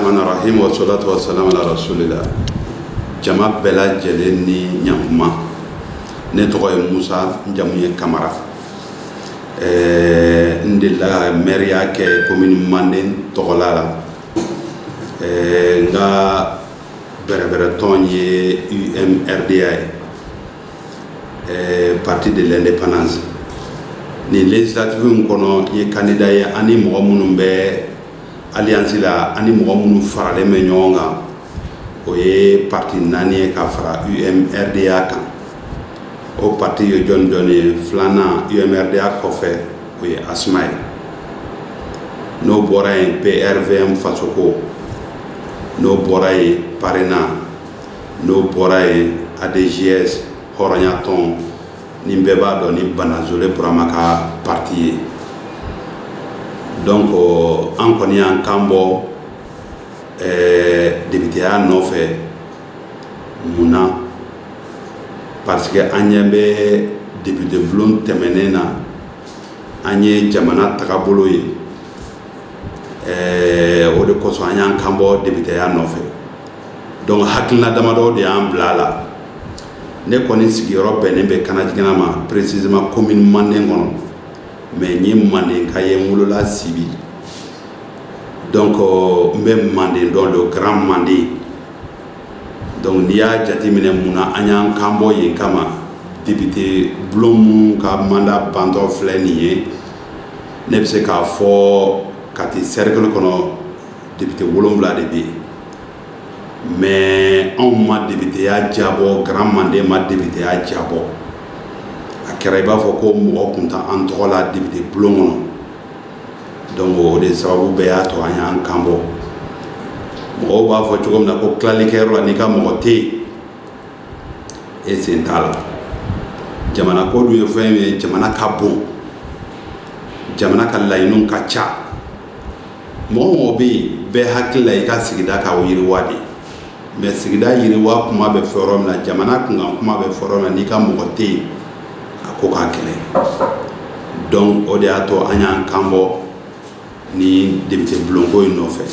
rahmani rahim wa salatu wa salam ala rasulillah jama bɛɛ lajɛlen ni ɲakuma ne tɔgɔ ye musa n jamu ye kamara ɛɛ n delila ka mɛriya kɛ komini manden tɔgɔla la ɛɛ n ka bɛrɛbɛrɛtɔn ye umrda ye ɛɛ parti de l'indépendance nin législative in kɔnɔ n ye kandida ye ani mɔgɔ minnu bɛ alliance la ani mɔgɔ minnu faralen bɛ ɲɔgɔn kan o ye pati naani ye ka fara umrda kan o pati ye jɔn jɔn ye filanan umrda kɔfɛ o ye asma ye n'o bɔra yen prvm fasoko n'o bɔra yen parena n'o bɔra yen adjs hɔrɔnyatɔn nin bɛɛ b'a dɔn ni banazole burama ka pati ye donc an kɔni y'an kan bɔ eh, debiteya nɔfɛ mun na parce que an ɲɛ bɛ debite bulon tɛmɛnen na an ye jamana tagabolo ye eh, o de kosɔn an y'an kan bɔ debiteya nɔfɛ donc hakilina damadɔ de y'an bila a la ne kɔni sigiyɔrɔ bɛnnen bɛ kanajigila ma précisément commune manden kɔnɔ mais n ye mandenka ye n wolola sibi donc euh, n bɛ manden dɔn le grand manden donc n'i y'a jateminɛ mun na an y'an kan bɔ yen kama député bulon minnu ka mandat bantɔ filɛ nin ye ne bɛ se k'a fɔ kati cercle kɔnɔ député wolonwula de bɛ yen mais anw ma debiteya diyabɔ grand manden ma debiteya diyabɔ a kɛra i b'a fɔ ko mɔgɔ tun t'an tɔgɔ la debite bulon kɔnɔ donc o de sababu bɛɛ y'a to an y'an kan bɔ mɔgɔw b'a fɔ cogo min na ko tilalikɛyɔrɔ la n'i ka mɔgɔ tɛ yen e sen t'a la jamana ko dun ye fɛn ye jamana ka bon jamana ka laɲiniw ka ca mɔgɔ mɔgɔ bɛ yen bɛɛ hakili la i ka sigida ka yiriwa de mais sigida yiriwa kuma bɛ fɔ yɔrɔ min na jamana kunkan kuma bɛ fɔ yɔrɔ min na n'i ka mɔgɔ tɛ yen a ko ka gɛlɛn donc o de y'a to an y'an kan bɔ ni depite bulonko in nɔfɛ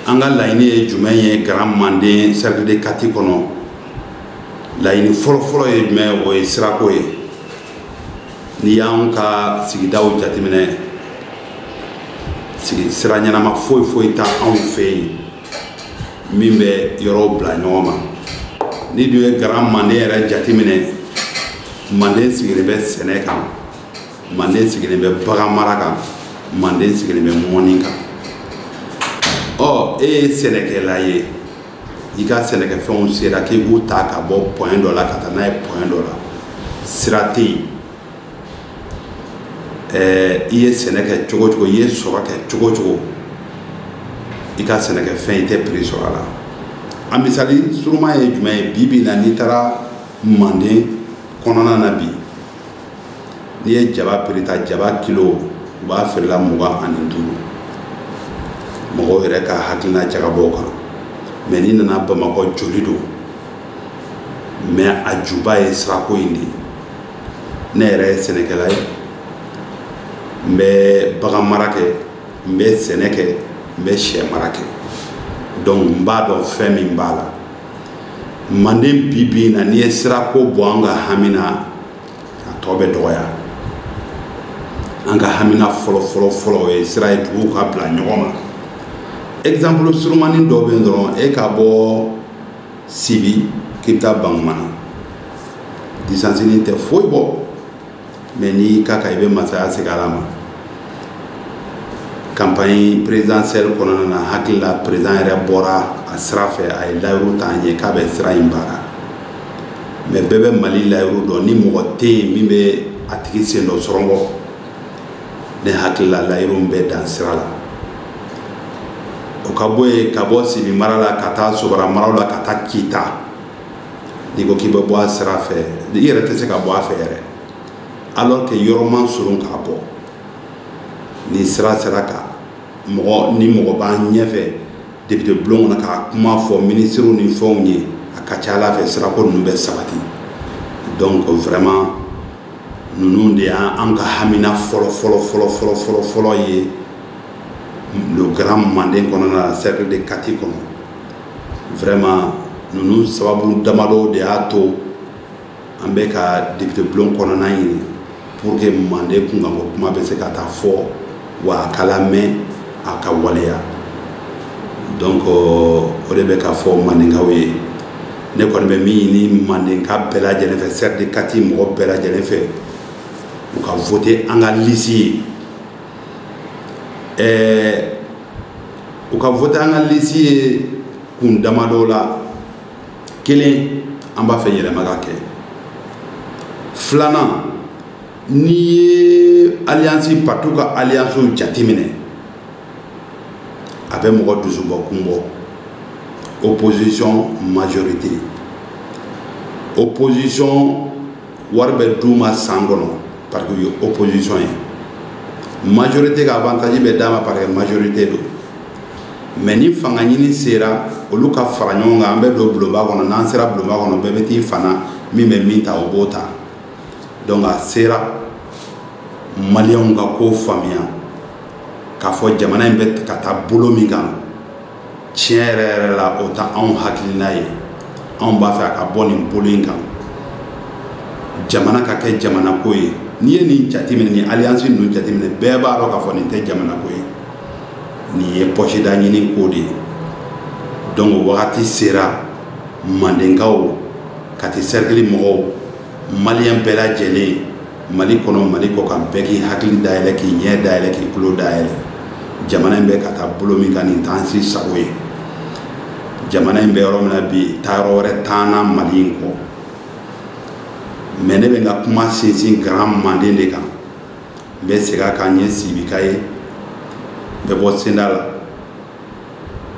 an ka laɲini ye jumɛn ye grand manden cercle de kati kɔnɔ laɲini fɔlɔfɔlɔ ye jumɛn o ye sirako ye n'i y'an ka sigidaw jateminɛ sigi sira ɲɛnama foyi foyi tɛ anw fɛ yen min bɛ yɔrɔw bila ɲɔgɔn ma n'i dun ye grand manden yɛrɛ jateminɛ manden sigilen bɛ sɛnɛ kan manden sigilen bɛ bagan mara kan manden sigilen bɛ mɔni kan ɔ e ye sɛnɛkɛla ye i ka sɛnɛkɛfɛnw sera k'i b'u ta ka bɔ point dɔ la ka taa n'a ye point dɔ la sira tɛ yen ɛɛ i ye sɛnɛ kɛ cogo cogo i ye sɔrɔ kɛ cogo cogo i ka sɛnɛkɛfɛn i tɛ prix sɔrɔ a la a misali suruma ye jumɛn ye bi bi in na n'i taara manden kɔnɔna na bi n'i ye jaba prix ta jaba kilo u b'a feere la mugan ani duuru mɔgɔw yɛrɛ ka hakilina jagabɔ kan mais n'i nana bamakɔ joli don mais a juba ye sirako in de ye ne yɛrɛ ye sɛnɛkɛla ye n bɛ bagan mara kɛ n bɛ sɛnɛ kɛ n bɛ sɛ mara kɛ donc n b'a dɔn fɛn min b'a la manden bi bi in na n'i ye sirako bɔ an ka hami na a tɔ bɛ dɔgɔya an ka hamina fɔlɔ fɔlɔ fɔlɔ o ye sira ye duguw ka bila ɲɔgɔn ma exemple surumani dɔ bɛ yen dɔrɔn e ka bɔ sibi k'i bɛ taa bankumana distance nin tɛ foyi bɔ mais n'i y'i k'a kan i bɛ masaya segin ala ma campagne présidentielle kɔnɔna na hakili la président yɛrɛ bɔra a sira fɛ a ye layiru ta an ye k'a bɛ sira in baara mais bɛɛ bɛ mali layiru dɔn ni mɔgɔ tɛ yen min bɛ a tigi sen don sɔrɔkɔ ne hakili la layiru bɛ dan sira la o ka bɔ yen ka bɔ sibi mara la ka taa sobara maraw la ka taa kita n'i ko k'i bɛ bɔ a sira fɛ i yɛrɛ tɛ se ka bɔ a fɛ yɛrɛ alors que yɔrɔ man surun k'a bɔ ni sira sera ka mɔgɔ ni mɔgɔ b'an ɲɛfɛ député bulon kɔnɔ k'a kuma fɔ minisiriw ni fɛnw ye a ka ca ala fɛ sirako ninnu bɛ sabati donc vraiment ninnu de y'an ka hamina fɔlɔ fɔlɔ fɔlɔ fɔlɔ fɔlɔ fɔlɔ ye le grand manden kɔnɔna la cercle de kati kɔnɔ vraiment ninnu sababu damadɔ de y'a to an bɛ ka député bulon kɔnɔna ɲini pour que manden kunkanko kuma bɛ se ka taa fɔ wa a ka lamɛn a ka waleya donc euh, o de bɛ ka fɔ mandenkaw ye ne kɔni bɛ min ɲini mandenka bɛɛ lajɛlen fɛ cercle de kati mɔgɔ bɛɛ lajɛlen fɛ u ka vote an ka liste ye ɛɛ u ka vote an ka liste ye kun damadɔ la kelen an b'a fɛ yɛlɛma ka kɛ filanan n'i ye alliance partiw ka alliance jateminɛ a bɛ mɔgɔ dusubɔ kun bɔ opposition majorité opposition wari bɛ d'u ma san kɔnɔ parce que u ye opposition ye majorité ka avantage bɛ d'a ma parce que majorité don mais ni fanga ɲini sera olu ka fara ɲɔgɔn kan an bɛ don bulonba kɔnɔ n'an sera bulonba kɔnɔ bɛɛ bɛ t'i fan na min bɛ min ta o b'o ta donc a sera maliyɛnw ka ko faamuya k'a fɔ jamana in bɛ ka taa bolo min kan tiɲɛ yɛrɛ yɛrɛ la o t'anw hakilina ye anw b'a fɛ a ka bɔ nin bolo in kan jamana ka kɛ jamana ko ye n'i ye nin jateminɛ nin alliance ninnu jateminɛ bɛɛ b'a dɔn k'a fɔ nin tɛ jamana ko ye nin ye pɔsida ɲini ko de ye donc wagati sera mandenkaw kati sɛrikili mɔgɔw maliyɛn bɛɛ lajɛlen mali kɔnɔ mali kɔ kan bɛɛ k'i hakili dayɛlɛ k'i ɲɛ dayɛlɛ k'i tulo dayɛlɛ jamana in bɛ ka taa bolo min kan nin t'an si sago ye jamana in bɛ yɔrɔ min na bi taayɔrɔ wɛrɛ t'an na mali in kɔ mais ne bɛ n ka kuma sinsin grand manden de kan n bɛ segin a kan n ye sibika ye n bɛ bɔ senda la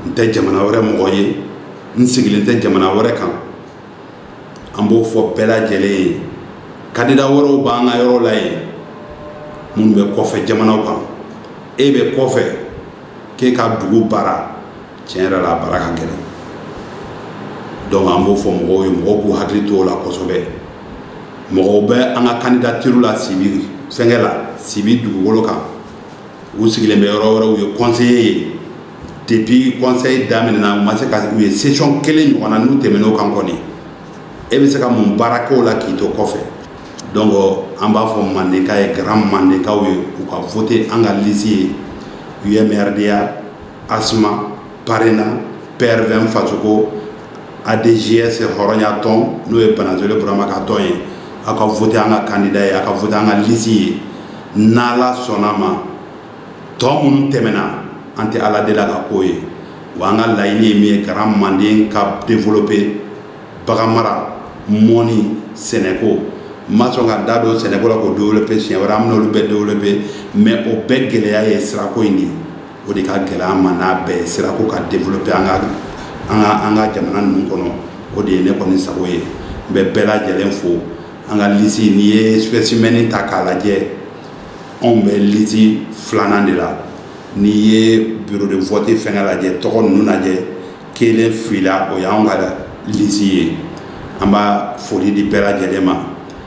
n tɛ jamana wɛrɛ mɔgɔ ye n sigilen tɛ jamana wɛrɛ kan an b'o fɔ bɛɛ lajɛlen ye kandida wɛrɛw b'an ka yɔrɔ la yen minnu bɛ kɔfɛ jamanaw kan e bɛ kɔfɛ k'e ka dugu baara tiɲɛ yɛrɛ la a baara ka gɛlɛn donc an b'o fɔ mɔgɔw ye mɔgɔw k'u hakili to o la kosɛbɛ mɔgɔw bɛ an ka candidature la sibi fɛnkɛ la sibi dugukolo kan u sigilen bɛ yɔrɔ wɛrɛ u ye conseiller ye depuis conseil daminɛna u ma se ka u ye session kelen ɲɔgɔn na n'u tɛmɛn'o kan kɔni e bɛ se ka mun baara k'o la k'i to kɔfɛ donc an b'a fɔ mandenka ye grand mandenkaw ye u ka vote an ka lisi ye UMRDA asma parena prvm fasoko adjs hɔrɔnya tɔn n'o ye banazole burama ka tɔn ye aw ka vote an ka kandida ye aw ka vote an ka lisi ye n'ala sɔnn'a ma tɔ minnu tɛmɛna an tɛ ala deli a ka ko ye wa an ka laɲini ye min ye grand manden ka développer baganmara mɔni sɛnɛko n ma sɔn ka da don sɛnɛko la k'o développer siɲɛ wɛrɛ an bɛn'olu bɛɛ développer mais o bɛɛ gɛlɛya ye sirako in de ye o de ka gɛlɛn an ma n'a bɛɛ ye sira ko ka développer an ka an ka an ka jamana ninnu kɔnɔ o de ye ne kɔni sago ye n bɛ bɛɛ lajɛlen fo an ka lisi n'i ye spécimen ta k'a lajɛ anw bɛ lisi filanan de la n'i ye bureau de vote fɛngɛ lajɛ tɔgɔ ninnu lajɛ kelen fila o y'anw ka lisi ye an b'a foli di bɛɛ lajɛlen ma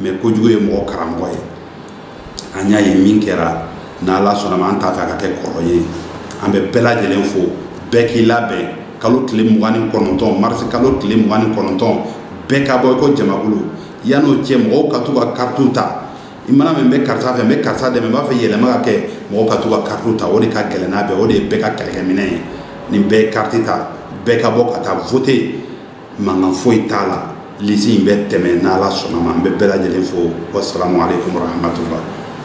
mais kojugu ye mɔgɔ karamɔgɔ ye an y'a ye min kɛra n'ala sɔnna ma an t'a fɛ a ka kɛ kɔrɔ ye an bɛ bɛɛ lajɛlen fo bɛɛ k'i labɛn kalo tile mugan ni kɔnɔntɔn marisi kalo tile mugan ni kɔnɔntɔn bɛɛ ka bɔ i ko jamakulu yan'o cɛ mɔgɔw ka t'u ka karitiw ta i mana min bɛ karisa fɛ n bɛ karisa dɛmɛ n b'a fɛ yɛlɛma ka kɛ mɔgɔw ka t'u ka karitiw ta o de ka gɛlɛn n'a bɛɛ o de ye bɛɛ ka kɛlɛkɛminɛ ye ni bɛɛ ye kariti ta bɛɛ ka bɔ ka taa voter mankan foyi t'a la lisi in bɛ tɛmɛ n'ala sɔnna ma an bɛ bɛɛ lajɛlen fo wasalamu aleykum warahmatula